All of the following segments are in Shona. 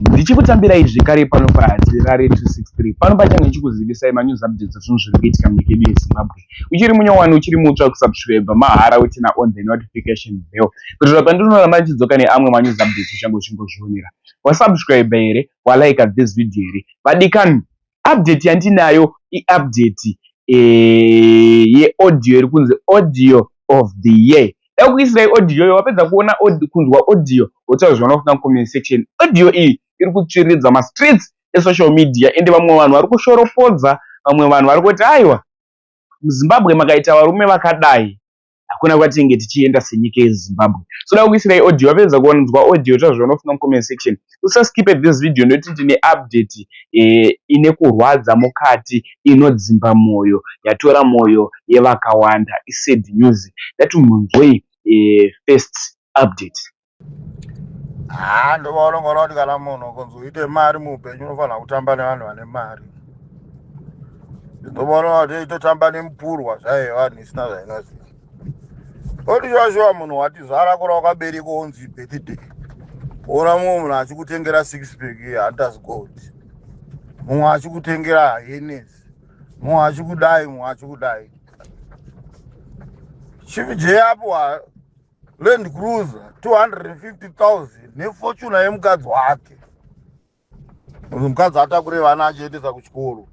Ndichikutambira izvi kare pano paHati Rare 263 pano pachange ndichikuzivisai manews updates ezvinhu zviri kuitika munyika yedu yeZimbabwe. Uchiri munyowani uchiri mutsva kusubscribe mahara wetena on the notification bell kuitira pandinoramba ndichidzoka neamwe manews updates uchange uchingozvionera. Wasubscribe here? Walike this video here? Vadikani? update yandinayo iupdate eh, yeaudio iri kunzi audio of the year dai kuisira audio iyo wapedza kuona kunzwa audio wotaura zvaona kuda comment section audio iyi iri kutsviridza mastreets esocial media ende vamwe vanhu vari kushoropodza vamwe vanhu vari kuti aiwa muzimbabwe makaita varume vakadai hakuna kwatinenge tichienda senyika yezimbabwe soda kukuisirai audio wapedza kuwanzwa audio ita zvaunofunga mucomment section usaskipe this video nekuti tine update eh, ine kurwadza mukati inodzimba mwoyo yatora mwoyo yevakawanda isad news dati munzwei eh, first update haa ndovaonongona kuti kana munhu kunzi uite mari muupenyu unofanira kutamba nevanhu vane mari ndovaonona kuti itotamba nemupurwa zvaive vanhu isina zvainoziva oti zvashuva munhu watizvara kura wakabereka onzi birthday ona mumwe munhu achikutengera six pack yehunters gold mumwe achikutengera henes mumwe achikudai mumwe achikudai chief j apo land cruiser 250000 nefortuna yemukadzi wake mukadzi atakure vana achiendesa kuchikoro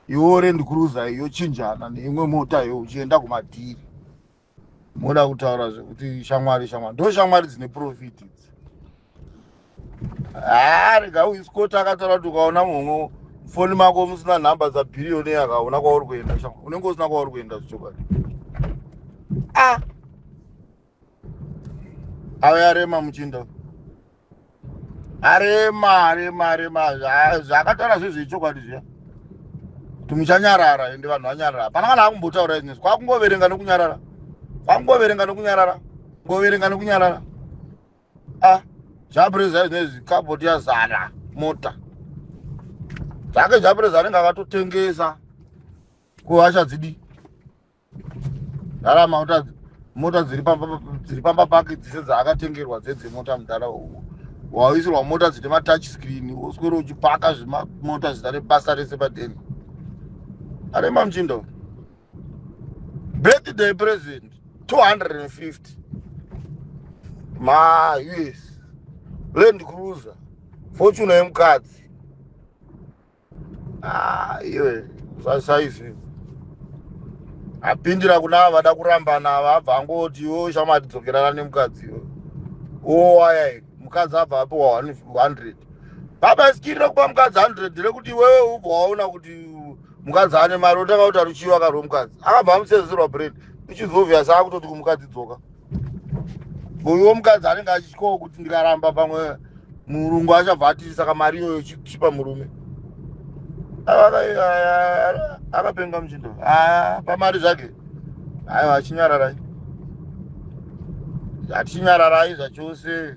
iwo land cruiser yochinjana neimwe mota yo uchienda kumadhiri moda kutaura zvekuti shamwari shamwari ndo shamwari dzine profit idzi haa rega uiskoti akataura kuti ukaona munhu foni mako musina nhamba dzabhiriyoni akaona kwauri kuenda unenge usina kwauri kuenda zvichokwadi a ave arema muchinda arema arema arema zvaakataura zvezve ichokwadi zviya kuti muchanyarara ende vanhu vanyarara hapana kana akumbotaura izvinezvi kwakungoverenga nekunyarara kwakungoverenga nekunyarara kungoverenga nekunyarara ah zvapureza zvinezvi kabhoti yazara mota zvake zvapureza anenge akatotengesa kuhasha dzidi zara mauta mota dziri pamba pake dzese dzaakatengerwa dzedzemota mudhara uwo waisirwa mota dzine matouch screen woswere uchipaka zvemamota zita rebasa rese padeni arema muchindo birthday present 250 ma us land cruiser fortune yemukadzi ah, iwe saizvi apindira kuna vada kurambana vabva angoti iwo shamati dzokerana nemukadzi iwe owaya mukadzi abva apiwa 100 baba isikirira kupa mukadzi 100 rekuti iwewe ubva waona kuti mukadzi ane mari otanga kuti aruchiva ka rwemukadzi akabva amusenzerwa bread which is obvious akutoti kumukadzi dzoka uyo mukadzi anenge achityawo kuti ndikaramba pamwe murungu achabva atiri saka mari iyoyo chipa murume akapenga muchindo pamari zvake aiwa achinyararai achinyararai zvachose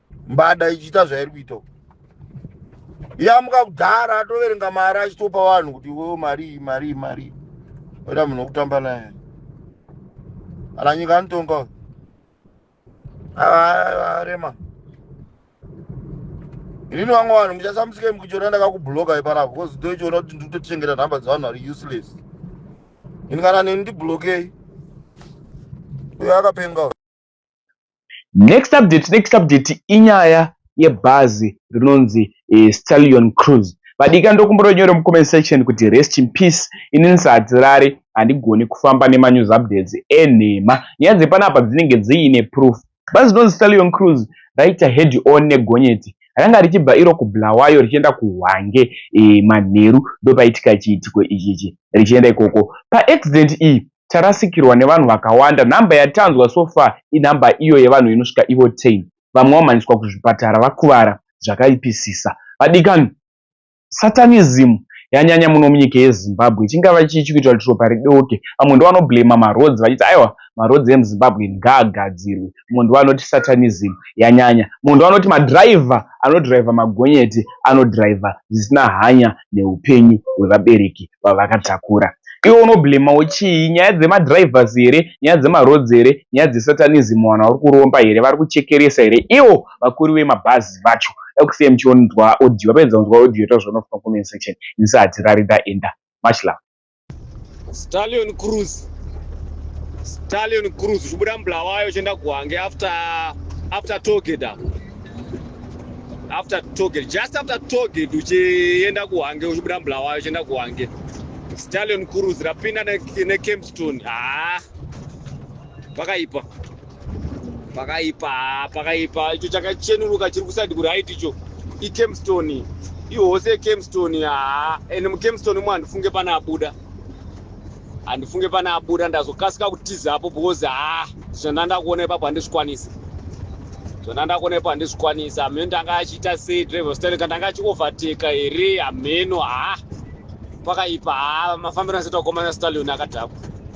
mbada ichiita zvairi kuita uku yamuka kudhara atoverenga mari achitopa vanhu kuti iwewo marii marii marii oita munhu wokutamba naye ala nyika anotonga uyu arema inini vamwe vanhu muchasamusike mukuchiona ndakakubhuloka iparapo bcause ndoichiona kuti ndikutotichengeta nhamba dzevanhu vari useless ini kana neni ndibhulokei uyo akapenga Next update, next update inyaya yebhazi rinonzi eh, Stallion Cruise. Vadika ndokumbononyora mucomment section kuti rest in peace. Ini ndisadzirare handigoni kufamba nemanews updates enhema. Nyaya dzepanapa dzinenge dziine proof. Bhazi rinonzi Stallion Cruise raita head on negonyeti ranga richibva iro kubulawayo richienda kuhwange e, manheru ndopaitika chiitiko ichichi richienda ikoko paaccident iyi tarasikirwa nevanhu vakawanda. Number yatanzwa so far inumber iyo yevanhu inosvika ivo 10. Vamwe vamhanyiswa kuzvipatara vakuvara zvakaipisisa. Vadikani, Satanism yanyanya muno munyika yeZimbabwe. Chingava chii chikuitwa kuti ropa ridoke? Vamwe ndovanoblamer maroads vachiti aiwa maroads emuZimbabwe ngaagadzirwe. munhu anoti satanism yanyanya munhu anoti madriver anodriver magonyeti anodriver zvisina hanya neupenyu hwevabereki vavakatakura iwe unoblemawo chii nyaya dzemadrivers here nyaya dzemaroads here nyaya dzesatanism vanhu vari kuromba here vari kuchekeresa here ivo vakuri vemabhazi vacho dakusiyai muchionzwa audio vapedza kunzwa audio ita zvaunofunga comment section inisa hatirari ndaenda much love stallion cruise stallion cruise uchibuda mubulawayo uchienda kuhange after after togate apo after togate just after togate uchienda kuhange uchibuda mubulawayo uchienda kuhange stallion cruise rapinda nekempstone haa pakaipa pakaipa pakaipa icho chakachenuruka chiri kuside kuright icho ikemstone ihose yekemstone haa and mukemstone umo handifunge pane abuda handifunge pane abuda ndazokasika kutiza apo because haa zvona ndakuona ipapo handizvikwanisa zvona ndakuona ipapo handizvikwanisa hameno ndanga achiita sei driver style ka ndanga achioverteka here hameno haa pakaipa haa mafambiro asita kukomana stallion akadhakwa